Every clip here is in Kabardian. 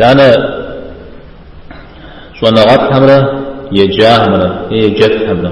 Данэ щӏэныгъэлӏхэмрэ еджахэмрэ е еджэфхэмрэ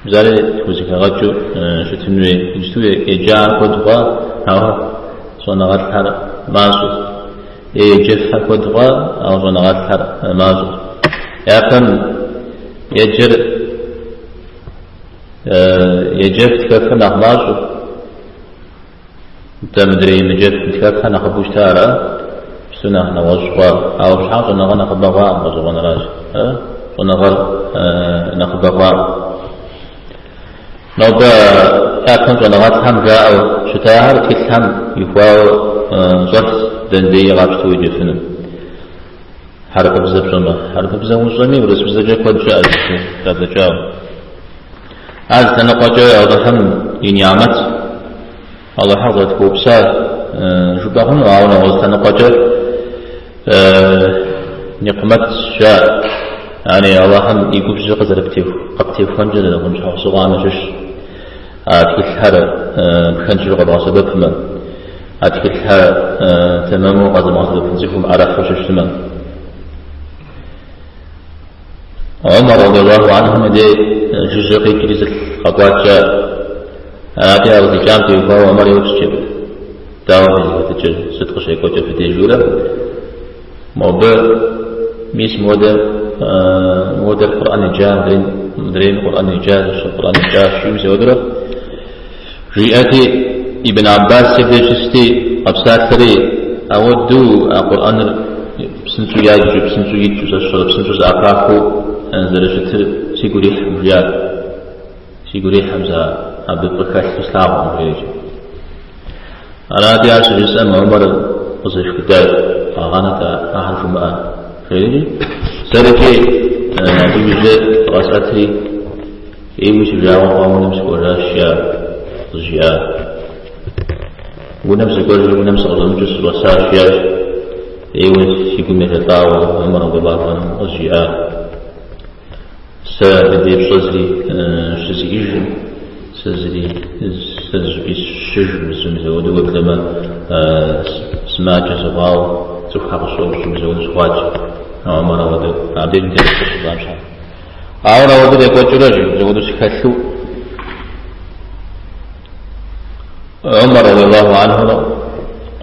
бзари тхузэхэгъэкӏыу щытын хуей? Иджыпсту еджахэр куэд хъуа, ауэ щӏэныгъэлӏхэр мащӏэщ. Е еджэфхэр куэд хъуа, ауэ щӏэныгъэлӏхэр мащӏэщ. Япэм еджэр еджэф-тхэфхэр нэхъ мащӏэт. Дэ мыдрей емыджэф-мытхэфхэр нэхъыбэу щыта ара? Иджыпсту нэхъ нэгъуэщӏ хъуа? Ауэ абы щхьэкӏэ щӏэныгъэр нэхъыбэ хъуакъым гъэщӏэгъуэныращ, э? щӏэныгъэр нэхъыбэ хъуакъым. Нобэ япэм щӏэныгъэлӏхэм жаӏэу щытахэр тхылъхэм ихуауэ щӏэлъщ дэндеи къапщту уеджэфыну. Хьэрыпыбзэ пщӏэмэ, хьэрыпыбзэ умыщӏэми урысыбзэкӏэ куэд щыӏэщ зэрадзэкӏауэ. Ар зы лъэныкъуэкӏэ Алыхьым и ниӏмэт, Алыхьыр къызэрытхуэупса жыпӏэ хъуну, ауэ нэгъуэщӏ лъэныкъуэкӏэ никъмэт жаӏэ. Ари Алыхьым и губжьыр къызэры- къыптехуэнкӏэ зэрыхъун щхьэусыгъуам ящыщщ а тхылъхэр пхэнжу къэбгъэсэбэпмэ, а тхылъхэр тэмэму къэзымыгъэсэбэпын цӏыхум ӏэрыхьэу щытмэ. Омар радиаллаху анхум и деж жыжьэ къикӏри зы лӏы къэкӏуат, жеӏэ, арати, ар къызикӏам теухуауэ Омар еупщӏ Джэбыр, дауэ фызыхэтыкӏыр, сыт къыщекӏуэкӏыр фи деж, жери? Мобы, мис модэ, модэр Къурӏэн иджа, мыдрейм Къурӏэн иджа, Къурӏэн иджа, жиӏэу мызэуэдурэ. Жиӏэти, Ибн Аббас абдеж щысти, къэпсалъэри, Ауэдэу а Къурӏэныр псынщӏэу яджу, псынщӏэу яджу, зэщыгъыр псынщӏэу зэӏэпахыу зэрыщытыр сигу ирихькъым, жиӏат. Сигу ирихькъым, сэ абы фӏы хэлъу слъагъуркъым, жери. Арати, ар щыжысӏэм Умар къызэшхыдащ, къэгъанэт ахэр жумыӏэ, жери, сэркӏи абы и ужь зыкъэсӏэтри, Ӏейуэ си жагъуэ хъуауэ унэм сыкӏуэжащ, жи, къызжиӏа. Унэм сыкӏуэжу, унэм сыкъыщӏэмыкӏыу сыщӏэсащ, жи. Ӏейуэ си гум ежэлӏауэ Омар радиаллаху анхум къызжиӏам. Сэ абы деж пщӏэ зыри щызиӏэжкъым, сэ зыри, сэ зыщӏыпӏи сыщыщыжкъым, зы мызэуэду уеблэмэ, сымаджэ сыхъуауэ, цӏыхухэр къысщӏэупщӏэу мызэуэду сыхъуат, жи. Омар ауэдэу, абдежым тету къызжиӏам щхьэкӏэ. Ауэрэ ауэдэ къекӏуэкӏыурэ мызэуэду сыхэлъу Умар радиаллаху анху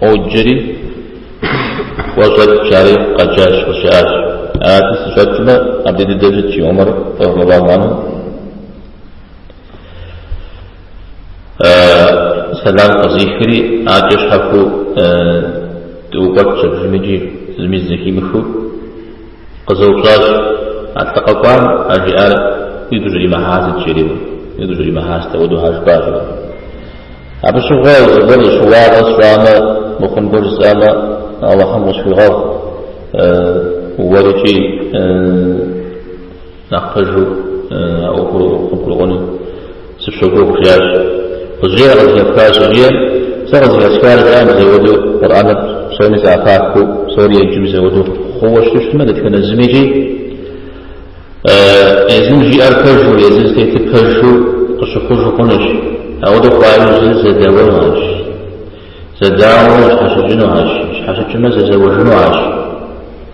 къоджэри къыщӏэкӏ, жари къэджащ, къызжаӏащ. Арати, сыщӏэкӏмэ, абдей дыдэ щыт, жи Умар радиаллаху анху. Сэлам къызихри, адкӏэ щхьэхуэу дыӏукӏуэтщ абыхэм икӏи зыми зэхимыхыу. Къызэупщӏащ, А лӏы къэкӏуам а жиӏар уигу щӏримыхьар сыт? жери, Уигу щӏримыхьар сыт апхуэдэу хьэ жыпӏа? жери. Абы щыгъуэ зыгуэр зы щыуагъэ сщӏамэ, мыхъун гуэр жысӏамэ, Алыхьым къысхуигъэгъу, уэр икӏи. Нэхъ пэжу а ӏуэхур къыбгурыӏуэну сыпщогугъ, жиӏащ. Къызжеӏэ, къызыхэпхар, жиӏэри, сэ къызыхэсхар, жаӏэ, мызэуэду Къурӏэныр псоми зэӏэпахыу, псори еджэу мызэуэду хъууэ щытмэ, дэтхэнэ зыми икӏи, езым жиӏэр пэжу, езым зытетыр пэжу къыщыхъужу хъунущ. Ауэдэ хъуа иужьрэ зэдэуэну арщ. Зэдауэмэ щхьэщыкӏыну арщ, щхьэщыкӏымэ зэзэуэжыну арщ.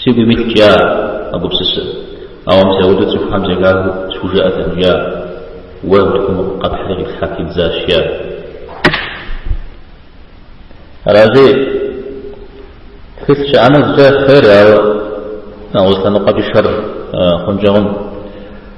Сигум илът я, а гупсысэ. Ауэ мызэуэду цӏыхухэм зэхахыу схужыӏэтэкъым я, уэ утыкум къэпхьри къиплъхьэ пидзащ я. Аращи, тхылъ щыӏэмэ зыкӏэ хъер, ауэ нэгъуэщӏ лъэныкъуэкӏи шэр хъункӏэ хъун.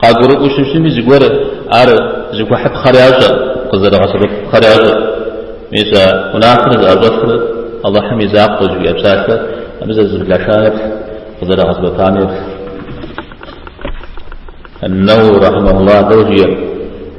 Къагурыӏуэу щыщыми зыгуэр ар зыхуэхьыпхъэр ящӏэ, къызэрыгъэсэбэпыпхъэр ящӏэ. Мис а унафэр зыӏэщӏэлъыр Алыхьым и закъуэщ, жиӏэ псалъэ абы зэрызэблаша еплъ, къызэрагъэсэбэпам еплъ. Нэуауи, рахьымэхулла, дауэ жиӏэрэ?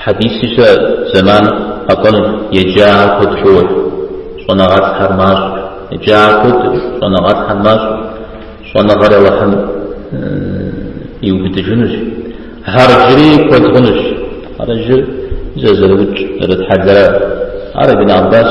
Хьэдиси щыӏэщ зэман къэкӏуэнущ еджахэр куэд хъууэ, щӏэныгъэлӏхэр мащӏэщ. Еджахэр куэдщ, щӏэныгъэлӏхэр мащӏэщ, щӏэныгъэр Алыхьым иубыдыжынущ. Хьэрыжри куэд хъунущ. Хьэрыжыр зэзэрыукӏ, зэрытхьэлэра. Ар Ибн Аббас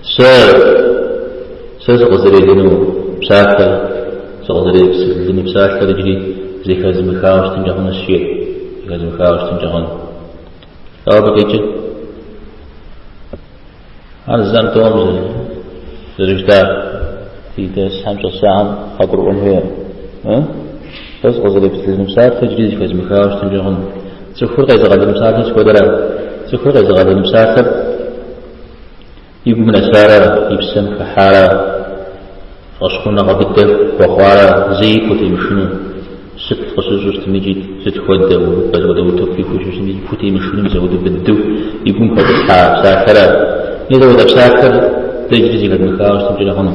Сэ, сэ сыкъызэрелыну псалъэр, сыкъызэрелыну псалъэр иджыри зэхэзымыхауэ щытынкӏэ хъунущ жиӏэ, зэхэзымыхауэ щытынкӏэ хъуну. Ауэ абы къикӏыр, ар зэм тӏэум зэрыжытӏа ди дерсхэм щӏэсахэм къагурыӏуэн хуейр, сэ сыкъызэрелыну псалъэр иджыри зэхэзымыхауэ щытынкӏэ хъуну. Цӏыхур къезыгъэлыну псалъэр сыт хуэдэрэ? Цӏыхур къезыгъэлыну псалъэр И гум нэсарэ, и псэм хыхьарэ, фӏэщхъуныгъэ быдэ хуэхъуарэ, зэи пхутемышыну, сыт къыщыщӏу щытми икӏи сыт хуэдэ, мызэуэду утыку ихуэу щыщӏу щытми икӏи пхутемышыну мызэуэду быдэу и гум хуэтӏысхьа псалъэра? Мызэуэдэ псалъэр дэ иджыри зэхэдмыхауэ щытынкӏэ хъуну?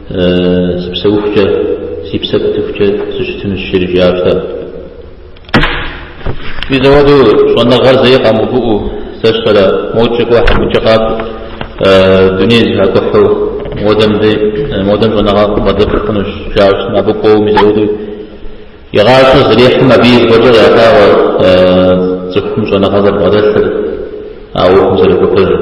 Сыпсэухукӏэ, си псэ пытыхукӏэ сыщытынущ, жриӏащ сэ. Мис апхуэдэу щӏэныгъэр зэи къэмыувыӏэу, зэщэрэ, модкӏэ кӏуэ, хьэмыкӏэ къакӏу, дуней зэхакӏухьу, модэм дэ, модэм щӏэныгъэ къыбгъэдэпхынущ, жаӏэу щытмэ, абы кӏуэуэ мис апхуэдэу и гъащӏэ зэрихьым абы и зэфӏэкӏыр ялъагъуу цӏыхум щӏэныгъэ зэрыбгъэдэлъыр, а ӏуэхум зэрыхуэпэжыр.